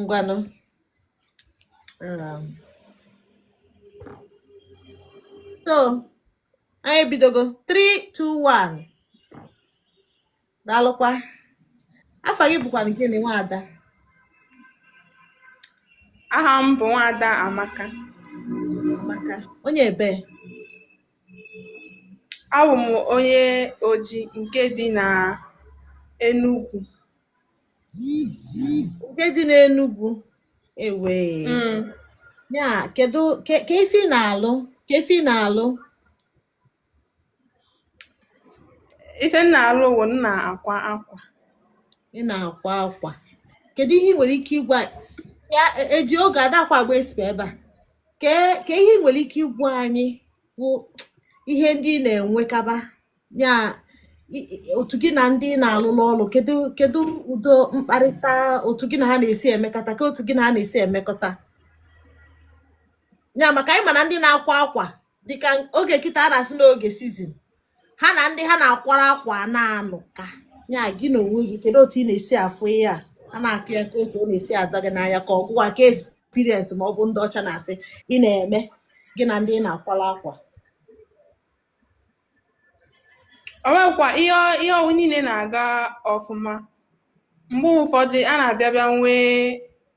ngwanụ um, so anyị ebidogo 3 2 1 daalụkwa afa gị bụkwa nke na nwaada aha m bụ nwaada amaka amaka onye ebee A wụ m onye Oji nke dị na Enugwu. Nke dị n'Enugwu ewee. Mm. Ya kedu ka ka ife ị na-alụ ka ife ị na-alụ Ife m na-alụ wụ m na-akwa akwa. ị na-akwa akwa kedu ihe ị nwere ike ịgwa ya e- eji oge adakwa agba esipa ebe a ka ka ihe ị nwere ike ịgwa anyị bụ ihe ndị ị na-enwekaba ya i- i- otu gị na ndị ị na-alụ n'ọlụ kedu kedu ụdị mkparịta otu gị na ha na-esi emekọta ka otu gị na ha na-esi emekọta ya maka anyị ma na ndị na-akwa akwa dịka oge kịta a na-asị n'oge season ha na ndị ha na-akwara akwa na-anụ ka ya gị na onwe gị kedu otu ị na-esi afụ ihe a a na-akọ ya ka otu ọ na-esi ada gị n'anya ka ọ gụwa ka experience ma ọ bụ ndị ọcha na-asị ị na-eme gị na ndị ị na-akwara akwa o nwekwa ihe ihe ọwụ niile na-aga ọfụma mgbe ụfọdụ a na-abịa bịa nwee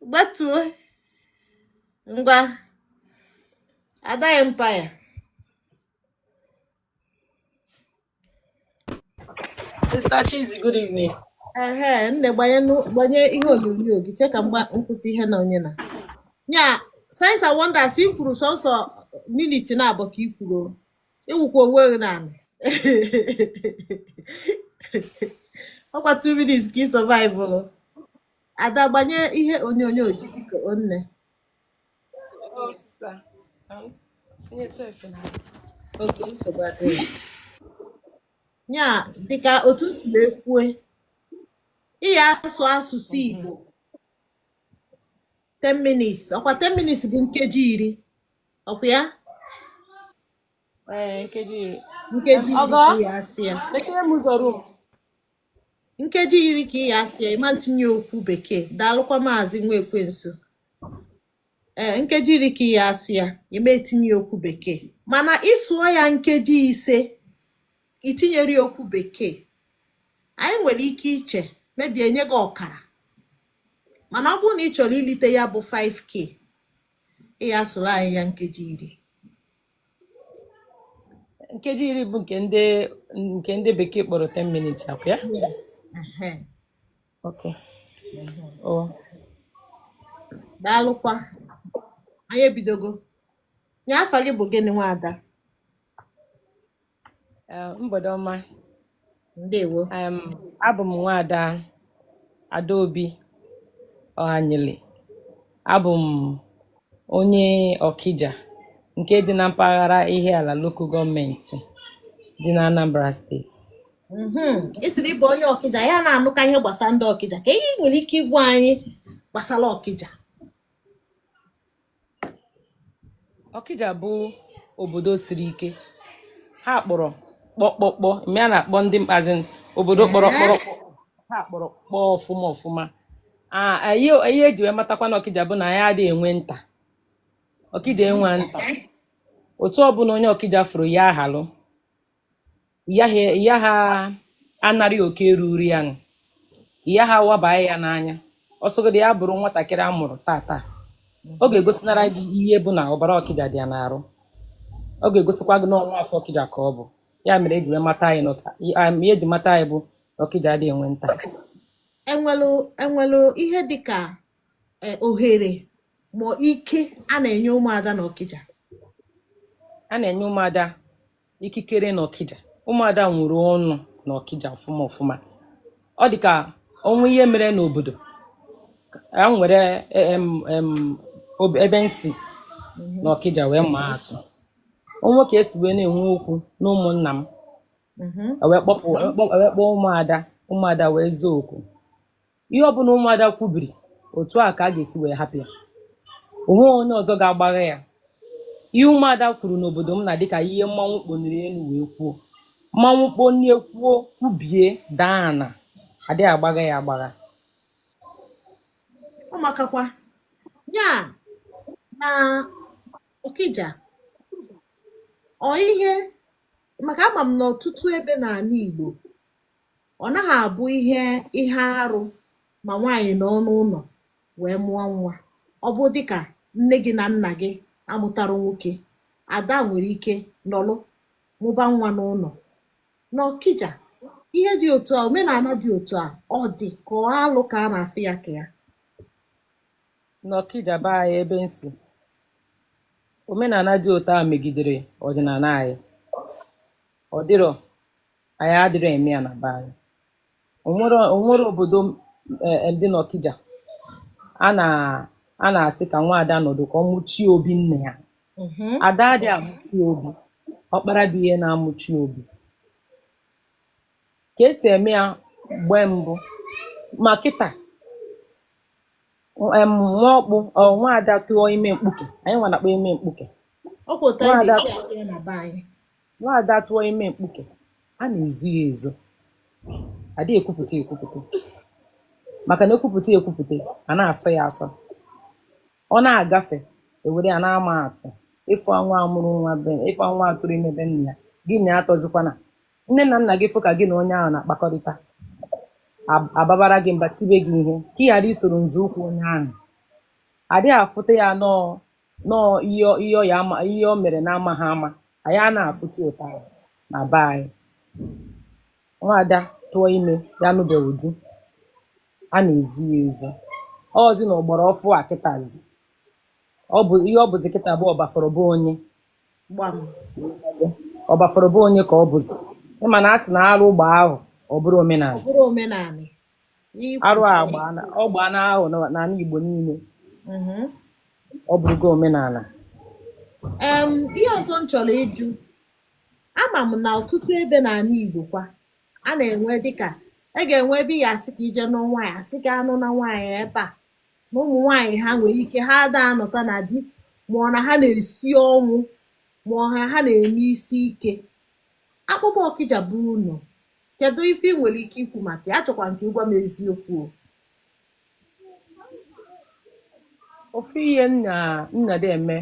gbatuo ngwa Ada Empire Sister Chizzy, good evening. ehe nne gbanye nụ- gbanye ihe onyonyo gị chee ka m kwụsị ihe na onye na ya signs and wonders i kwuru sọsọ minute naabọ ka i kwuru o. ị wụkwa onwe gị n'ala ọkwa 2 minutes ka ị survive Ada gbanye ihe onyonyo gị biko o nne. Oh, sister. Um, tinyetụ efe na Okay nsogbu adịghị. Ya dịka otu m si wee kwue, ị ya asụ asụsụ Igbo 10 minutes, ọkwa 10 minutes bụ nkeji iri, ọkwa ya? Ee, nkeji iri. Nkeji iri Ọgọ? ka ị ya asụ ya. Lekere m ụzọ room. nkeji iri ka ị ya asụ ya ị ma etinye okwu bekee daalụkwa maazị nwa ekwensu ee nkeji iri ka ị ya asụ ya ị ma etinye okwu bekee mana ị sụọ ya nkeji ise i tinyerọ ya okwu bekee anyị nwere ike iche maybe enye gị ọkara mana ọ bụrụ na ị chọrọ ilite ya bụ 5k ị ya asụrụ anyị ya nkeji iri nkeji iri bụ nke ndị nke ndị bekee kpọrọ 10 minutes akwa ya yes ehe okay o daalụkwa anyị ebidogo ya afa gị bụ gịnị nwaada Eh, mgbede ọma ndewo Em, abụ m nwaada adaobi ọhanyele abụ m onye ọkija nke dị na mpaghara Ihiala lokal gọọmenti dị na anambra steeti Mhm. ị sịrị ị bụ onye ọkịja ya a na-anụka ihe gbasara ndị ọkịja ka ihe ị nwere ike ịgwa anyị gbasara ọkịja Ọkịja bụ obodo siri ike ha kpọrọ kpọkpọkpọ ma a na-akpọ ndị mkpazi obodo kpọrọ ọkpọ ha kpọrọ ọkpọ ọfụma ọfụma ihe eji wee matakwa na ọkịja bụ na anyị adịghị enwe nta ọkịja enwe nta otu ọbụla onye ọkịja fụrụ ya ahalụ ya ha anarị oke ruru ya nụ ya ha wabaa ya n'anya ọsọgodi ya bụrụ nwatakịrị a mụrụ tata ọ ga-egosinara gị ihe bụ na ọbara ọkịja dị ya n'arụ ọ ga-egosikwa gị na ọ nwa afọ ọkịja ka ọ bụ ya mere eji wee mata anyị n'ụta ihe eji mata anyị bụ na ọkịja adị enwe nta e nwelu ihe dịka e, ohere ma ike a na-enye ụmụada na ọkịja a na-enye ụmụada ikikere na ọkịja ụmụada nwere ọnụ na ọkịja ọfụma ọfụma ọ dị ka o nwee ihe mere n'obodo e were ebe m si mhm. na ọkịja wee maa atụ o nwee ka e si wee na-enwe okwu na ụmụnna m mhm. e e wee kpọọ ụmụada ụmụada wee zoo okwu Ihe ọbụla ụmụada kwubiri, otu a ka a ga-esi wee hapụ ya. O nweghị onye ọzọ ga-agbagha ya. Ihe ụmụada kwuru n'obodo m na dịka ihe mmanwụ kponiri elu wee kwuo. Mmanwụ kponie kwuo kwubie daa ana, adịghị agbagha ya agbagha. Ọ makakwa. Ya na Okija, ọ ihe maka ama m n'ọtụtụ ebe n'ala Igbo, Ọ naghị abụ ihe ihe arụ ma nwaanyị nọ n'ụlọ wee mụọ nwa. Ọ bụ dịka nne gị na nna gị amụtara nwoke, ada nwere ike nọlụ mụba nwa n'ụlọ. N'Ọkija, ihe dị otu a, omenala dị otu a, ọ dị ka ọ alụ ka a na-afụ ya ka ya? N'Ọkija be anyị ebe m si, omenala dị otu a megidere ọdịnala anyị. Ọ dịrọ. anyị adịrọ eme ya na be anyị onwere onwere obodo ndị n'Ọkija a na a na-asị ka nwaada nọdụ ka ọ mụchie obi nne ya mm-hmm. ada adị amụchi obi ọkpara bụ ihe na-amụchi obi ka esi eme ya mgbe mbụ ma kịta nwa ọkpụ nwaada tụọ ime mkpuke anyị nwa na-akpọ ime mkpuke Nwaada tụọ ime mkpuke, a na-ezo ya ezo. A dịghị ekwupụta ekwupụta. Maka na ekwupụta ekwupụta, a na-asọ ya asọ. Ọ na-agafe, ewere ya na-ama atụ. Ịfụ nwa amụrụ nwa be, ịfụ nwa atụrụ ime be nna ya, gị na ya atọzikwana. Nne na nna gị fụ ka gị na onye ahụ na-akpakọrịta, ab- ababara gị mba tibe gị ihe ka ị ghara isoro nzọụkwụ onye ahụ. A dịghị afụta ya nọọ nọọ ihe ọ- ihe ọ ya ama ihe o mere n'amaghị ama anyị ana afụta ya otu ahụ na be anyị nwaada tụọ ime ya nụbeghị di a na-ezo ya ezo ọzi na ọgbara ọfụụ a kịtazi ọ bụ ihe ọ bụzi kịta bụ ọbafọrọ bụ onye gbam ọbafọrọ bụ onye ka ọ bụzi ịma na a sị na arụ gbaa ahọ ọ bụrụ ọ omenala bụrụ omenanị arụ a gbaana ọ gbaana ahọ na- n'ala Igbo niile Mhm. ọ bụrụgo omenala Em, ihe ọzọ m chọrọ ịjụ ama m na ọtụtụ ebe n'ala Igbo kwa a na-enwe dịka a ga-enwe ebe ị ga-asị ka i je nụọ nwaanyị asị ka anụna nwaanyị ebe a na ụmụ nwaanyị ha nwere ike ha ada anọta na di ma ọ na ha na-esi ọnwụ ma ọ ha ha na-eme isi ike akpọkwuo ọkịja bụ unu Kedụ ife ị nwere ike ikwu maka ya? Achọkwa m ka ị gwa m eziokwu o. Ofu ihe m na- m na-adị eme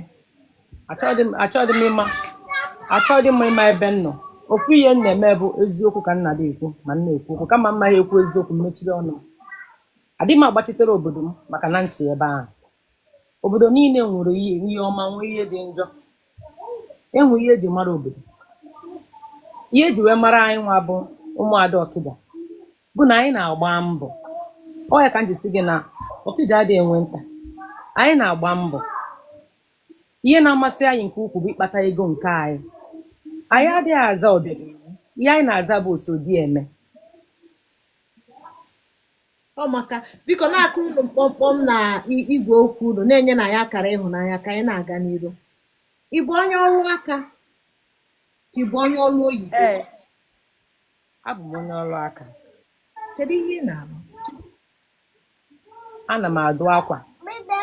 achọghị m achọghị m ịma achọghị m ịma ebe m nọ ofu ihe m na-eme bụ eziokwu ka m na-adị ekwu ma m na-ekwu okwu kama m ma ya ekwu eziokwu m mechiri ọnụ adịghị m agbachitere obodo m maka na m si ebe ahụ obodo niile nwere ihe ihe ọma nwee ihe dị njọ enwe ihe eji mara obodo ihe eji wee mara anyị nwa bụ ụmụada ọkịja bụ na anyị na-agba mbọ ọ ya ka m ji sị gị na ọkịja adịghị enwe nta anyị na-agba mbọ ihe na-amasị anyị nke ukwuu bụ ịkpata ego nke anyị anyị adịghị aza ọbịageri ihe anyị na-aza bụ osodieme ọ maka biko na-akụrụnụ mkpọmkpọm na i- igwe okwu unu na-enye na ya akara ịhụnanya ka anyị na-aga n'iru ị bụ onye ọrụ aka ka ị bụ onye ọrụ oyibo ee abụ m onye ọrụ aka kedu ihe ị na-arụ ana m adụ akwa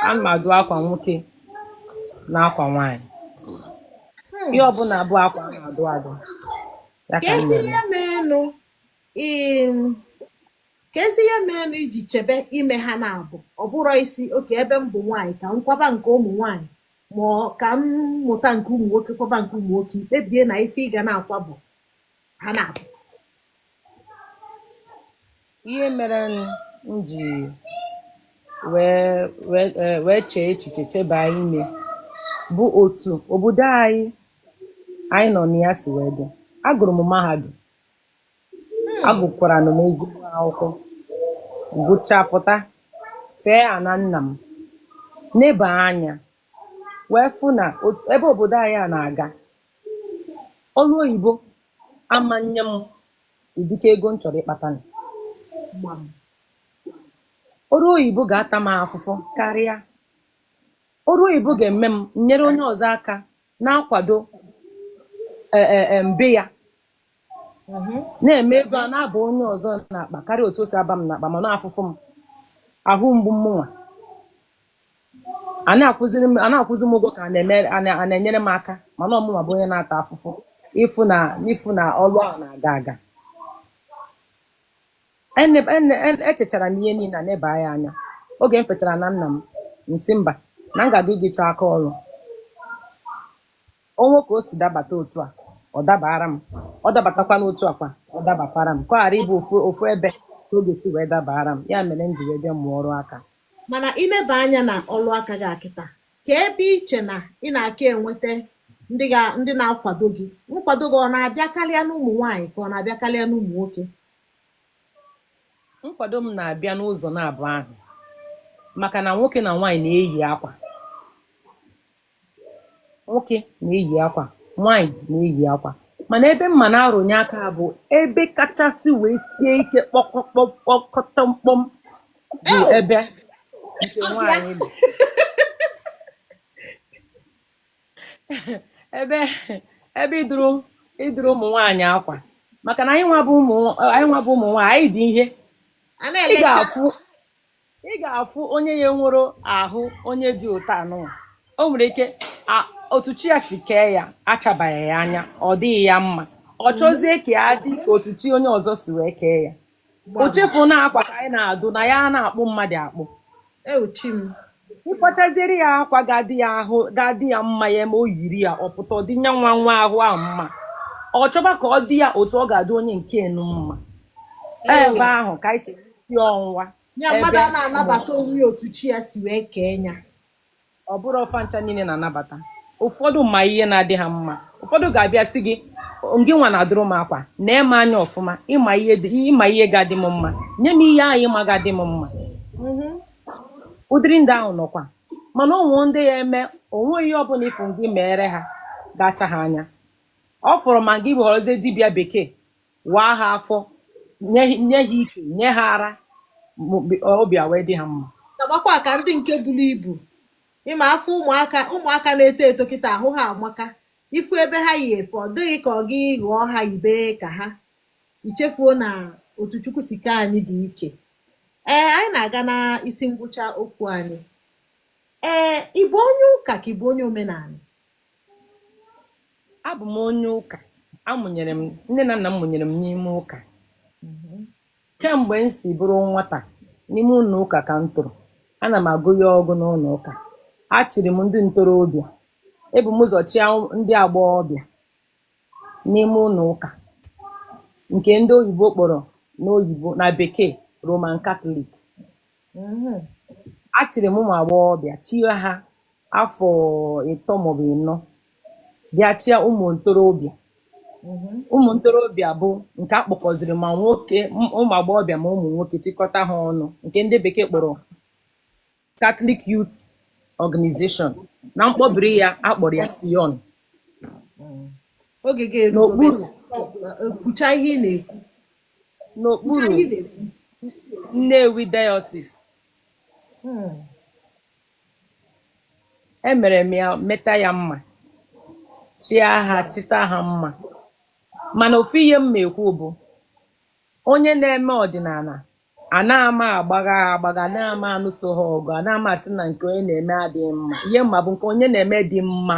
ana m adụ akwa nwoke na akwa nwaanyị Hmm. ihe ọbụla bụ akwa a na-adụ adụ ya ka ka m ezi na-eme ihe meenụ ị Keezi ihe meenụ i ji chebe ime ha naabọ ọ bụrụ ị sị okay ebe m bụ nwaanyị ka m kwaba nke ụmụ nwaanyị ma ọ ka m mụta nke ụmụ nwoke kwaba nke ụmụ nwoke i kpebie na ife ị ga na-akwa bụ ha naabọ ihe mere m ji wee wee eh, wee chee echiche cheba ime bụ otu obodo anyị anyị nọ na ya si wee dị agụrụ m mahadum agụkwara m ezigbo akwụkwọ gụchapụta fee ana nna m neba anya wee fụ na otu ebe obodo anyị a na-aga ọrụ oyibo ama enye m ụdịka ego m chọrọ ịkpatanụ. ọrụ oyibo ga-ata m afụfụ karịa ọrụ oyibo ga-eme m nyere onye ọzọ aka na-akwado e- e- e, mbe ya mm-hmm. na-eme ego a na-aba onye ọzọ n'akpa karịa otu o si aba m n'akpa mana ọ afụfụ m ahụ mgbu mụnwa a na-akwụzi m ụgwọ ka a na-enyere m aka mana ọ mụnwa bụ onye na-ata afụfụ ịfụ na n'ịfụ na ọrụ ahụ na-aga aga echechara m ihe niile neba ya anya oge m fetara ana nna m m sị mba na m ga-aga iji chọọ aka ọrụ O nwee ka o si dabata otu a, ọ dabaara m. Ọ dabatakwa n'otu a kwa, ọ dabakwara m. Ka ọ ghara ịbụ ofu ofu ebe ka ọ ga-esi wee dabaara m. Ya mere m ji wee jee mụọ ọrụ aka. Mana i leba anya na ọrụ aka gị a kịta, kee ebe i che na ị na-aka enweta ndị ga ndị na-akwado gị? Nkwado gị ọ na-abịa karịa n'ụmụ nwaanyị ka ọ na-abịa karịa n'ụmụ nwoke? Nkwado m na-abịa n'ụzọ naabọ ahụ maka na nwoke na nwaanyị na-eyi akwa. nwoke na-eyi akwa nwaanyị na-eyi akwa mana ebe m ma na a rụnye aka bụ ebe kachasị wee sie ike kpọkọtọmkpọm bụ ebe nke nwaanyị nọ ebe ebe ịdụrụ ịdụrụ ụmụ nwaanyị akwa maka na anyị nwa bụ ụmụ anyị nwa bụ ụmụ nwaanyị anyị dị ihe a ị na-elecha ga-afụ ị ga-afụ onye ya nwere ahụ onye dị otu anụ o nwere ike otu chi ya si kee ya achabaghị ya anya ọ dịghị ya mma ọ chọzie ka ya dị ka otu chi onye ọzọ si wee kee ya o chefu na akwa ka anyị na-adụ na anyị anaghị akpụ mmadụ akpụ e, ị kwachaziere ya akwa ga-adị ya ahụ ga-adị ya mma ya ma o yiri ya ọ pụta ọ dị nya nwa nwa ahụ ahụ mma ọ chọba ka ọ dị ya otu ọ ga-adị onye nke enu mma ebe ahụ ka anyị si si enwe ya mmadụ anaghị anabata onwe otu chi ya si wee kee ya ọ bụrọ fa ncha niile na-anabata ụfọdụ ma ihe na-adị ha mma ụfọdụ ga-abịa sị gị ngị nwa na-adụrụ m akwa na ị ma nya ọfụma ị ma ihe ị ma ihe ga-adị m mma nye m ihe ahụ ị ma ga-adị m mma mm-hmm. ụdịrị ndị ahụ nọkwa mana o nwe ndị ị ya-eme o nweghị ihe ọbụla ị fụ gị meere ha ga-acha ha anya ọ fọrọ ma gị ghọrọzie dibịa bekee waa ha afọ nye ha- nye ha ike nye ha ara ma obi obi a wee dị ha mma gamakwa ka ndị nke buru ibu ị ma afụ ụmụaka ụmụaka na-eto eto kịta ahụ ha amaka ị fụ ebe ha yi efe ọ dị gị ka ọ gị ghọọ ha yibe ka ha i chefuo na otu chukwu si kee anyị dị iche ee anyị na-aga na isi ngwụcha okwu anyị ee ị bụ onye ụka ka ị bụ onye omenala abụ m onye ụka a mụnyere m nne na nna m mụnyere m n'ime ụka kemgbe m si bụrụ nwata n'ime ụlọ ụka ka m toro ana m agụ ihe ọgụgụ n'ụlọ ụka achịrị m ndị ntorobịa ebu m ụzọ chịa ndị agbọghọbịa n'ime ụlọ ụka nke ndị oyibo kpọrọ n'oyibo na bekee Roman Catholic achịrị m ụmụ agbọghọbịa chie ha afọ ịtọ maọbụ ịnọ bịa chịa ụmụ ntorobịa mhm. ụmụ ntorobịa bụ nke a kpọkọziri ma nwoke ụmụ agbọghọbịa ma ụmụ nwoke tikọta ha ọnụ nke ndị bekee kpọrọ Catholic Youth Organization na mkpọbiri ya a kpọrọ ya CYON kwuchaa ihe ị na-ekwu n'okpuru Nnewi Diocese hmm. emere m ya meta ya mma chịa ha chịta ha mma mana ofu ihe m na-ekwu bụ onye na-eme ọdịnala anaghị m agbagha agbagha anaghị m anụso ha ọgụ anaghị m asị na nke onye na-eme adịghị mma ihe m ma bụ nke onye na-eme dị mma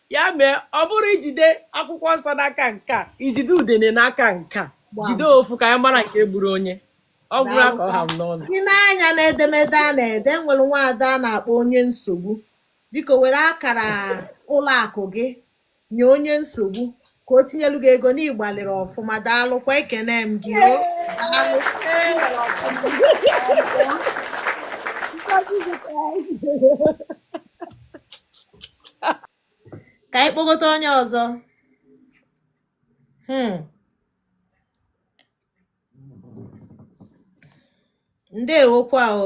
ya mee ọ bụrụ ijide akwụkwọ nsọ n'aka nke a ijide udene n'aka nke a Gbam. jide ofu ka anyị mara nke gburu onye ọ gwụrụ ka ọ ha m n'ọnụ i nee anya n'edemede a na-ede nwere nwaada a na-akpọ onye nsogbu biko were akara ụlọ akụ gị nye onye nsogbu ka o tinyelu gị ego na ị gbalịrị ọfụma daalụkwa ekene m gị o daalụ Ngozi zụtara ka anyị kpọgote onye ọzọ hmm. ndewokwa o